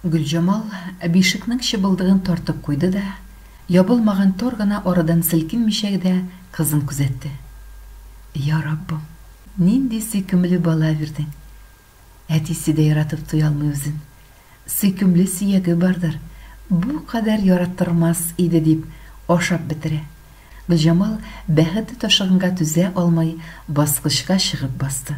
Гөлҗамал бишекнең чыбылдыгын тартып куйды да, ябылмаган тар гына арадан селкенмичә гдә кызын күзәтте. Я Раббым, нинди сөйкемле бала бирдең! Әтисе дә яратып туя алмый үзен. Сөйкемле сөяге бардыр, бу кадәр яраттырмас иде, дип ашап бетерә. Гөлҗамал бәхете ташыганга түзә алмый баскычка чыгып басты.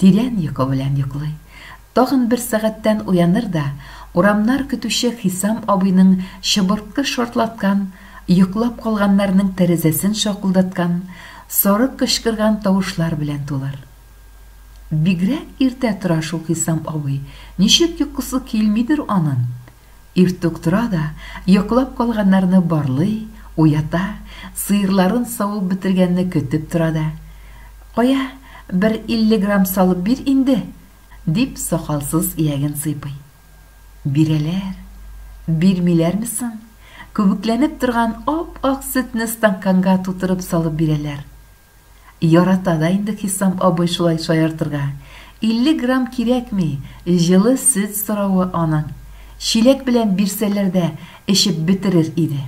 Тирән йокы белән йоклый. Тагын бер сәгатьтән уяныр да, урамнар көтүче Хисам абыйның чыбыркы шартлаткан, йоклап калганнарның тәрәзәсен шакылдаткан, сарык кычкырган тавышлар белән тулыр. Бигрәк иртә тора шул Хисам абый, ничек йокысы килмидер анын? Иртүк тора да, йоклап калганнарны барлый, уята, сыерларын савып бетергәнне көтеп тора да, Кая, бер илле грамм салып бир инде! дип сакалсыз ияген сыйпый. Бирәләр. Бирмиләрме соң? Күбекләнеп торган ап-ак сөтне стаканга тутырып салып бирәләр. Ярата да инде Хисам абый шулай шаяртырга. Илле грамм кирәкми, җылы сөт соравы аның. Чиләк белән бирсәләр дә эчеп бетерер иде.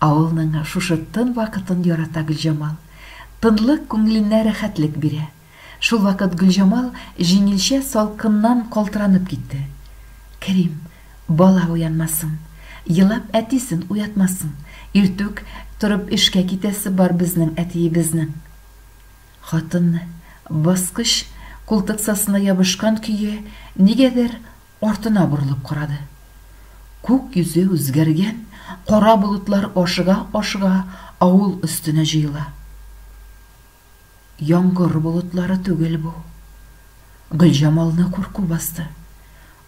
Авылның шушы тын вакытын ярата Гөлҗамал. Тынлык күңеленә рәхәтлек бирә. Шулвакыт Гөлҗамал җиңелчә салкыннан калтыранып китте. Керим, бала уянмасын, елап әтисен уятмасын, иртүк торып эшкә китәсе бар безнең әтиебезнең. Хатын, баскыч култыксасына ябышкан көе, нигәдер артына борылып карады. Күк йөзе үзгәргән, кара болытлар ашыга-ашыга авыл өстенә җыела. Яңгыр болытлары түгел бу. Гөлҗамалны курку басты.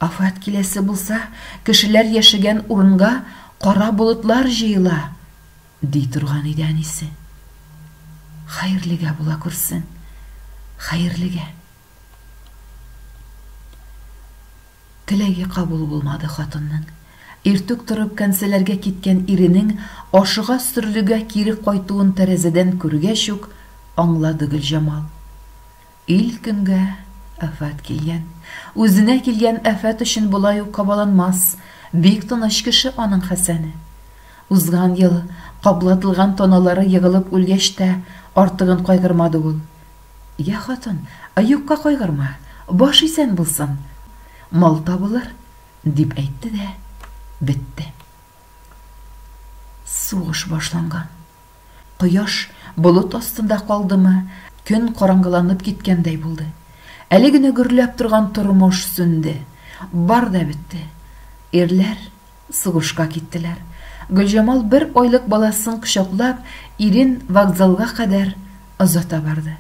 Афәт киләсе булса, кешеләр яшәгән урынга кара болытлар җыела, ди торган иде әнисе. Хәерлегә була күрсен, хәерлегә. Теләге кабул булмады хатынның. Иртүк торып кәнсәләргә киткән иренең ашыга-сөрлегә кире кайтуын тәрәзәдән күргәч үк аңлады Гөлҗамал. Ил көнгә афәт килгән. Үзенә килгән афәт өчен болай ук кабаланмас, бик тыныч кеше аның Хәсәне. Узган ел каблатылган тоналары егылып үлгәч тә артыгын кайгырмады ул. Йә, хатын, юкка кайгырма, баш исән булсын, мал табылыр, дип әйтте дә бетте. Сугыш башланган. Кояш болыт астында калдымы, көн караңгыланып киткәндәй булды. Әле генә гөрләп торган тормыш сүнде. Бар да бетте. Ирләр Сугышка киттеләр. Гөлҗамал бер айлык баласын кочаклап, ирен вокзалга кадәр озата барды.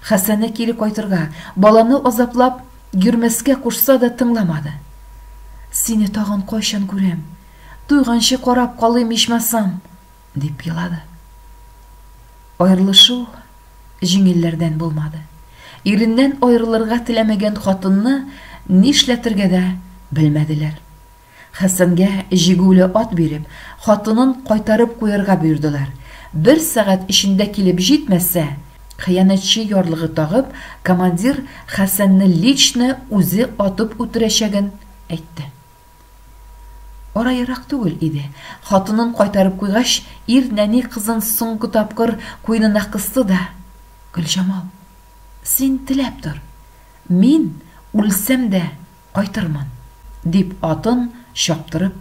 Хәсәне кире кайтырга, баланы азаплап йөрмәскә кушса да тыңламады. Сине тагын кайчан күрәм? Туйганчы карап калыйм ичмасам! дип елады. Аерылышу җиңелләрдән булмады. Иреннән аерылырга теләмәгән хатынны нишләтергә дә белмәделәр. Хәсәнгә җигүле ат биреп, хатынын кайтарып куярга боердылар. Бер сәгать эчендә килеп җитмәсә, хыянәтче ярлыгы тагып, командир Хәсәнне лично үзе атып үтерәчәген әйтте. Ара ерак түгел иде. Хатынын кайтарып куйгач, ир нәни кызын соңгы тапкыр куенына кысты да, Гөлҗамал, син теләп тор, мин үлсәм дә кайтырмын, дип атын чаптырып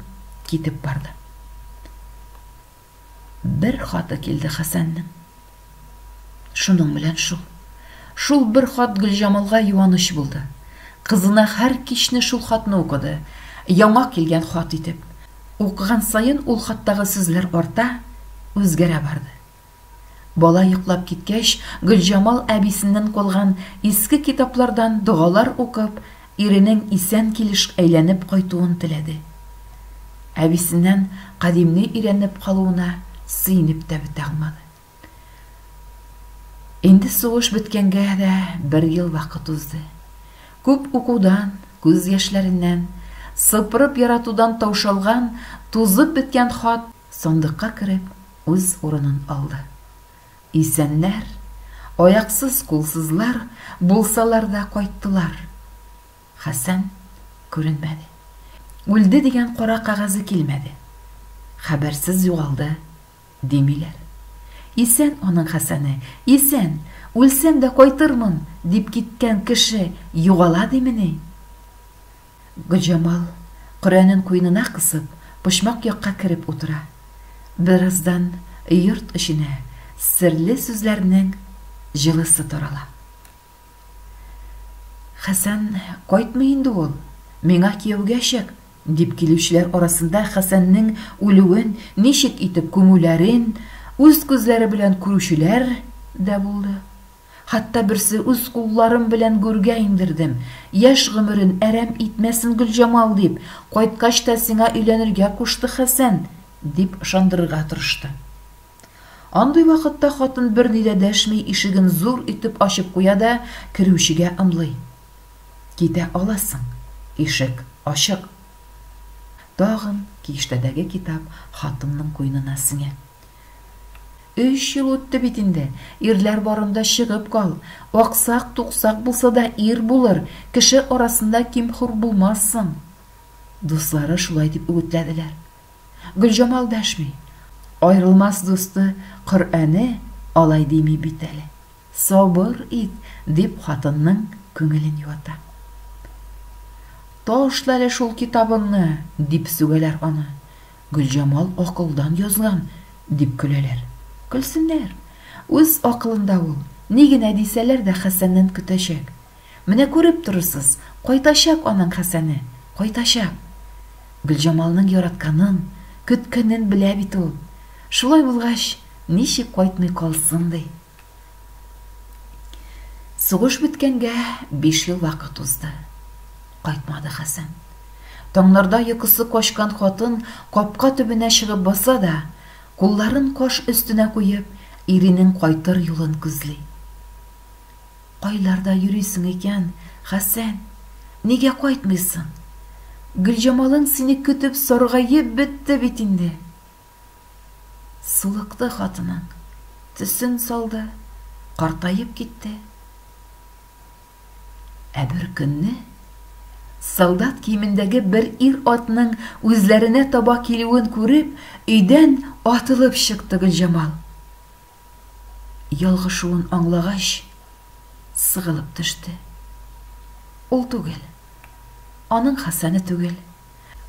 китеп барды. Бер хаты килде Хәсәннең. Шуның белән шул. Шул бер хат Гөлҗамалга юаныч булды. Кызына һәр кичне шул хатны укыды, яңа килгән хат итеп. Укыган саен ул хаттагы сүзләр арта, үзгәрә барды. Бала йоклап киткәч, Гөлҗамал әбисеннән калган иске китаплардан догалар укып, Иренең исән килеш әйләнеп кайтуын теләде. Әбисеннән Кадимне өйрәнеп калуына сөенеп тә бетә алмады. Инде сугыш беткәнгә дә бер ел вакыт узды. Күп укудан, күз яшьләреннән, сыпырып яратудан таушалган, тузып беткән хат сандыкка кереп, үз урынын алды. Исәннәр, аяксыз-кулсызлар булсалар да кайттылар. Хәсән күренмәде. Үлде дигән кара кәгазе килмәде. Хәбәрсез югалды, димиләр. Исән аның Хәсәне, исән, үлсәм дә кайтырмын, дип киткән кеше югала димени? Гөлҗамал, Коръәнен куенына кысып, почмак якка кереп утыра. Бераздан йорт эченә серле сүзләрнең җылысы тарала. Хәсән кайтмый инде ул, миңа кияүгә чык! дип килүчеләр арасында Хәсәннең үлүен, ничек итеп күмүләрен үз күзләре белән күрүчеләр дә булды. Хәтта берсе үз кулларым белән гүргә иңдердем. Яшь гомерен әрәм итмәсен Гөлҗамал дип, кайткач та сиңа өйләнергә кушты Хәсән, дип ышандырырга тырышты. Андый вакытта хатын берни дә дәшми ишеген зур итеп ачып куя да керүчегә ымлый. Китә аласың, ишек ачык. Тагын киштәдәге китап хатынның куенына сеңә. Өч ел үтте бит инде. Ирләр барында чыгып кал. Аксак, туксак булса да ир булыр, кеше арасында ким-хур булмассың. Дуслары шулай дип үгетләделәр. Гөлҗамал дәшми. Аерылмас дусты Коръәне алай дими бит әле. Сабыр ит, дип хатынның күңелен юата. Ташла әле шул китабыңны, дип сүгәләр аны. Гөлҗамал акылдан язган, дип көләләр. Көлсеннәр. Үз акылында ул. Ни генә дисәләр дә Хәсәннән көтәчәк. Менә күреп торырсыз, кайтачак аның Хәсәне, кайтачак. Гөлҗамалның яратканын, көткәнен белә бит ул. Шулай булгач, ничек кайтмый калсын ди? Сугыш беткәнгә биш ел вакыт узды. Кайтмады Хәсән. Таңнарда йокысы качкан хатын капка төбенә чыгып баса да, кулларын каш өстенә куеп, иренең кайтыр юлын күзли. Кайларда йөрисең икән, Хәсән? Нигә кайтмыйсың? Гөлҗамалың сине көтеп саргаеп бетте бит инде. Сулыкты хатының, төсен салды, картаеп китте. Ә бер көнне солдат киемендәге бер ир-атның үзләренә таба килүен күреп, өйдән атылып чыкты Гөлҗамал. Ялгышуын аңлагач, сыгылып төште. Ул түгел, аның Хәсәне түгел.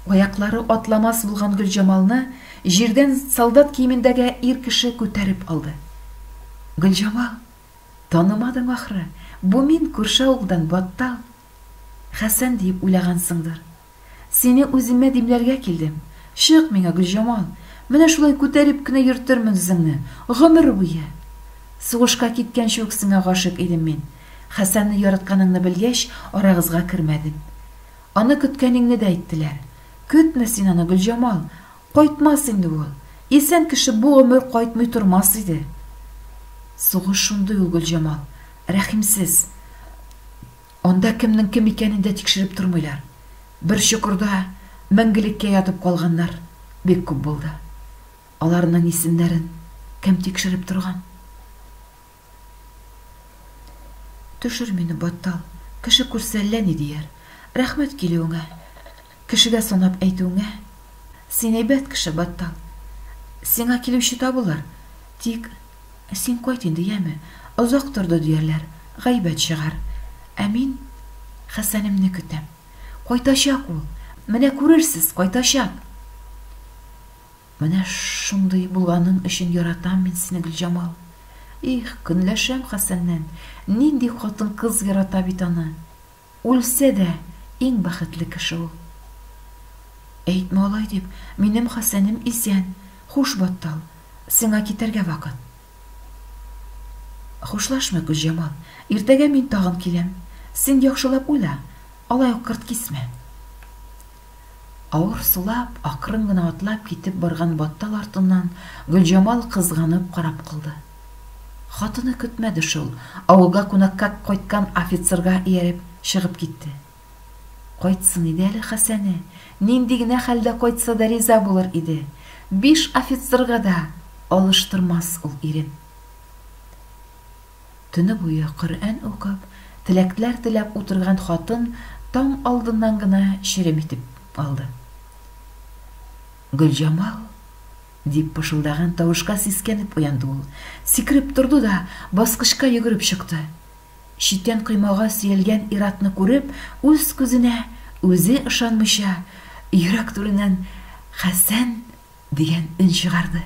Аяклары атламас булган Гөлҗамалны җирдән солдат киемендәге ир кеше күтәреп алды. Гөлҗамал, танымадың ахры, бу мин, күрше авылдан Баттал. Хәсән диеп уйлагансыңдыр. Сине үземә димләргә килдем. Чык миңа, Гөлҗамал, менә шулай күтәреп кенә йөртермен үзеңне, гомер буе. Сугышка киткәнче үк сиңа гашыйк идем мин. Хәсәнне яратканыңны белгәч, арагызга кермәдем. Аны көткәнеңне дә әйттеләр. Көтмә син аны, Гөлҗамал! Кайтмас инде ул. Исән кеше бу гомер кайтмый тормас иде. Сугыш шундый ул, Гөлҗамал. Рәхимсез. Анда кемнең кем икәнен дә тикшереп тормыйлар. Бер чокырда мәңгелеккә ятып калганнар бик күп булды. Аларның исемнәрен кем тикшереп торган? Төшер мине, баттал, кеше күрсә әллә ни дияр. Рәхмәт килүеңә, кешегә санап әйтүеңә. Син әйбәт кеше, баттал. Сиңа килүче табылыр. Тик син кайт инде, яме. Озак торды диярләр, гайбәт чыгар. Ә мин Хәсәнемне көтәм. Кайтачак ул. Менә күрерсез, кайтачак! Менә шундый булганың өчен яратам мин сине, Гөлҗамал. Их, көнләшәм Хәсәннән. Нинди хатын-кыз ярата бит аны. Үлсә дә, иң бәхетле кеше ул. Әйтмә алай дип, минем Хәсәнем исән. Хуш, Баттал, сиңа китәргә вакыт. Хушлашмыйк, Гөлҗамал. Иртәгә мин тагын киләм. Син яхшылап уйла, алай ук кырт кисмә. Авыр сулап, акрын гына атлап китеп барган Баттал артыннан Гөлҗамал кызганып карап калды. Хатыны көтмәде шул, авылга кунакка кайткан офицерга ияреп чыгып китте. Кайтсын иде әле Хәсәне, нинди генә хәлдә кайтса да риза булыр иде, биш офицерга да алыштырмас ул ирен. Төне буе Коръән укып, теләкләр теләп утырган хатын таң алдыннан гына черем итеп алды. Гөлҗамал! дип пышылдаган тавышка сискәнеп уянды ул. Сикереп торды да, баскычка йөгереп чыкты. Читән коймага сөялгән ир-атны күреп, үз күзенә үзе ышанмыйча, йөрәк түреннән Хәсән Дигән өн чыгарды.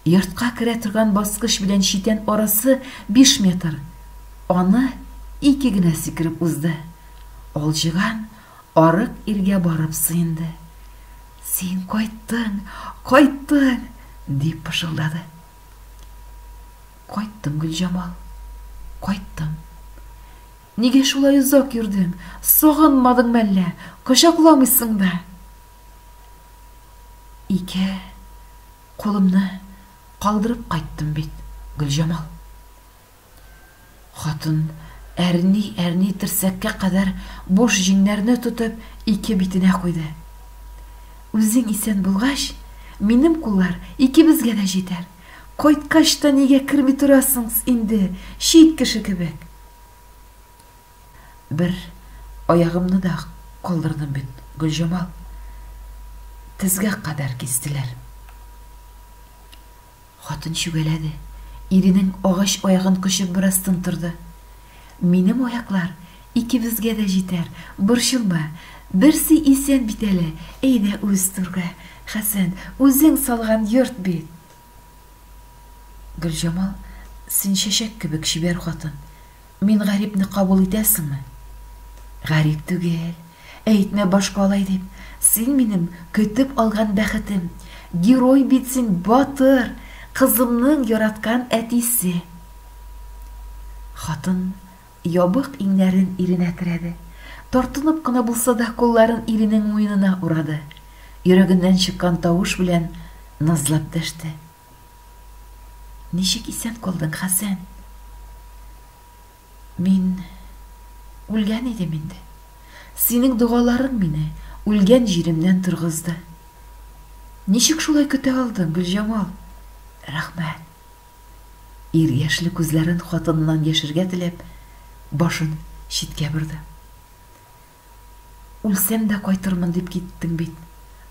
Йортка керә торган баскыч белән читән арасы биш метр. Аны ике генә сикереп узды. Алҗыган арык иргә барып сыенды. Син кайттың, кайттың! дип пышылдады. Кайттым, Гөлҗамал, кайттым. Нигә шулай озак йөрдең? Сагынмадың мәллә? Кочакламыйсың да? Ике кулымны калдырып кайттым бит, Гөлҗамал. Хатын әрни-әрни терсәккә кадәр буш җиңнәрне тотып ике битенә куйды. Үзең исән булгач, минем куллар икебезгә дә җитәр. Кайткач та нигә керми торасыңс инде, чит кеше кебек? Бер аягымны да калдырдым бит, Гөлҗамал. Тезгә кадәр кистеләр. Хатын чүгәләде. Иренең агач аягын кочып бераз тын торды. Минем аяклар икебезгә дә җитәр, борчылма. Берсе исән бит әле. Әйдә үз түргә. Хәсән, үзең салган йорт бит. Гөлҗамал, син чәчәк кебек чибәр хатын. Мин гарипне кабул итәсеңме? Гарип түгел. Әйтмә башка алай дип. Син минем көтеп алган бәхетем. Герой бит син, батыр, кызымның яраткан әтисе. Хатын Ябык иңнәрен иренә терәде. Тартынып кына булса да кулларын иренең муенына урады. Йөрәгеннән чыккан тавыш белән назлап дәште. Ничек исән калдың, Хәсән? Мин үлгән идем инде. Синең догаларың мине үлгән җиремнән торгызды. Ничек шулай көтә алдың, Гөлҗамал? Рәхмәт. Ир яшьле күзләрен хатыныннан яшергә теләп, башын читкә борды. Үлсәм дә кайтырмын дип киттең бит.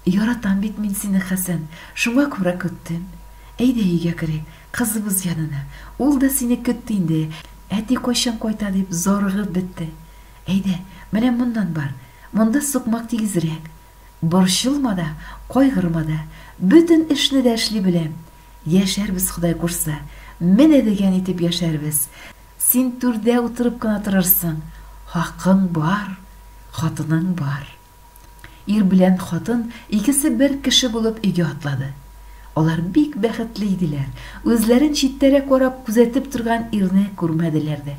Яратам бит мин сине, Хәсән, шуңа күрә көттем. Әйдә өйгә керик, кызыбыз янына. Ул да сине көтте инде, әти кайчан кайта дип зарыгып бетте. Әйдә, менә моннан бар, монда сукмак тигезрәк. Борчылма да, кайгырма да, бөтен эшне дә эшли беләм. Яшәрбез Ходай курса, менә дигән итеп яшәрбез. Син түрдә утырып кына торырсың, хакың бар, хатының бар. Ир белән хатын икесе бер кеше булып өйгә атлады. Алар бик бәхетле иделәр, үзләрен читтәрәк карап күзәтеп торган ирне күрмәделәр дә.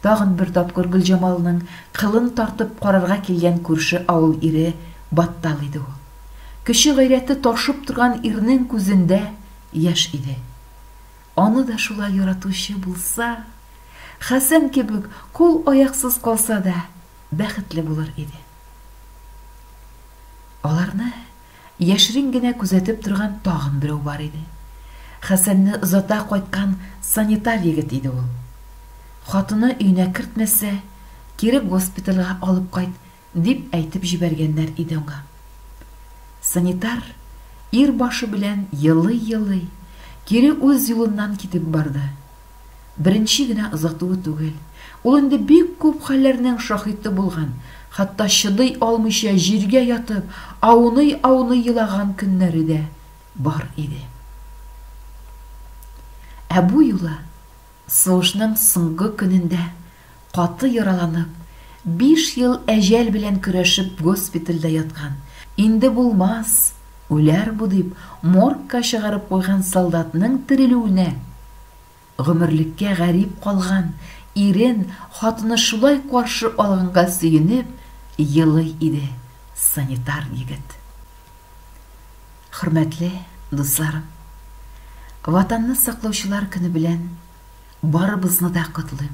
Тагын бер тапкыр Гөлҗамалның кылын тартып карарга килгән күрше авыл ире Баттал иде ул. Көче гайрәте ташып торган ирнең күзендә яшь иде. Аны да шулай яратучы булса, Хәсән кебек кул-аяксыз калса да, бәхетле булыр иде. Аларны яшерен генә күзәтеп торган тагын берәү бар иде. Хәсәнне озата кайткан санитар егет иде ул. Хатыны өенә кертмәсә, кире госпитальга алып кайт, Дип әйтеп җибәргәннәр иде аңа. Санитар, ир башы белән елый-елый, кире үз юлыннан китеп барды. Беренче генә озатуы түгел, ул инде бик күп хәлләрнең шаһиты булган, хәтта чыдый алмыйча җиргә ятып, ауный-ауный елаган көннәре дә бар иде. Ә бу юлы сугышның соңгы көнендә Каты яраланып, биш ел әҗәл белән көрәшеп госпитальдә яткан, инде булмас, үләр бу дип, моргка чыгарып куйган солдатның терелүенә, гомерлеккә гарип калган ирен хатыны шулай каршы алганга сөенеп елый иде санитар егет. Хөрмәтле дусларым! Ватанны саклаучылар көне белән Барыбызны да котлыйм.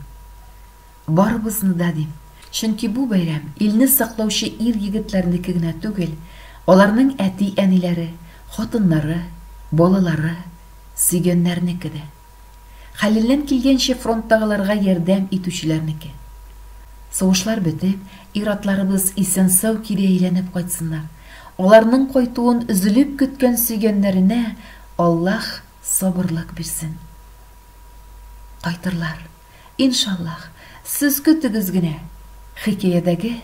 Барыбызны да дим, чөнки бу бәйрәм илне саклаучы ир-егетләрнеке генә түгел, аларның әти-әниләре, хатыннары, балалары, сөйгәннәрнеке дә. Хәленнән килгәнчә фронттагыларга ярдәм итүчеләрнеке. Сугышлар бетеп, ир-атларыбыз исән-сау кире әйләнеп кайтсыннар, аларның кайтуын өзелеп көткән сөйгәннәренә Аллаһ сабырлык бирсен. Кайтырлар, иншаллаһ, сез көтегез генә, хикәядәге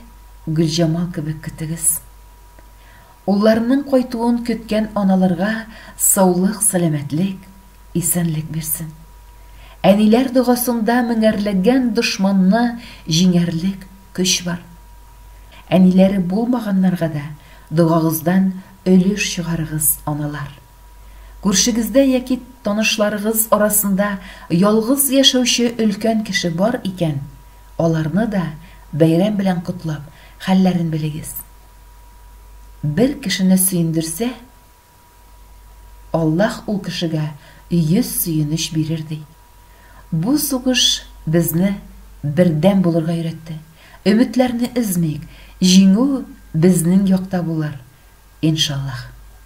Гөлҗамал кебек көтегез. Улларының кайтуын көткән аналарга саулык, сәламәтлек, исәнлек бирсен. Әниләр догасында меңәрләгән дошманны җиңәрлек көч бар. Әниләре булмаганнарга да догагыздан өлеш чыгарыгыз, аналар. Күршегездә яки танышларыгыз арасында ялгыз яшәүче өлкән кеше бар икән, аларны да бәйрәм белән котлап, хәлләрен белегез. Бер кешене сөендерсә, Аллаһ ул кешегә йөз сөенеч бирер, ди. Бу сугыш безне бердәм булырга өйрәтте. Өметләрне өзмик, җиңү безнең якта булыр, иншаллаһ.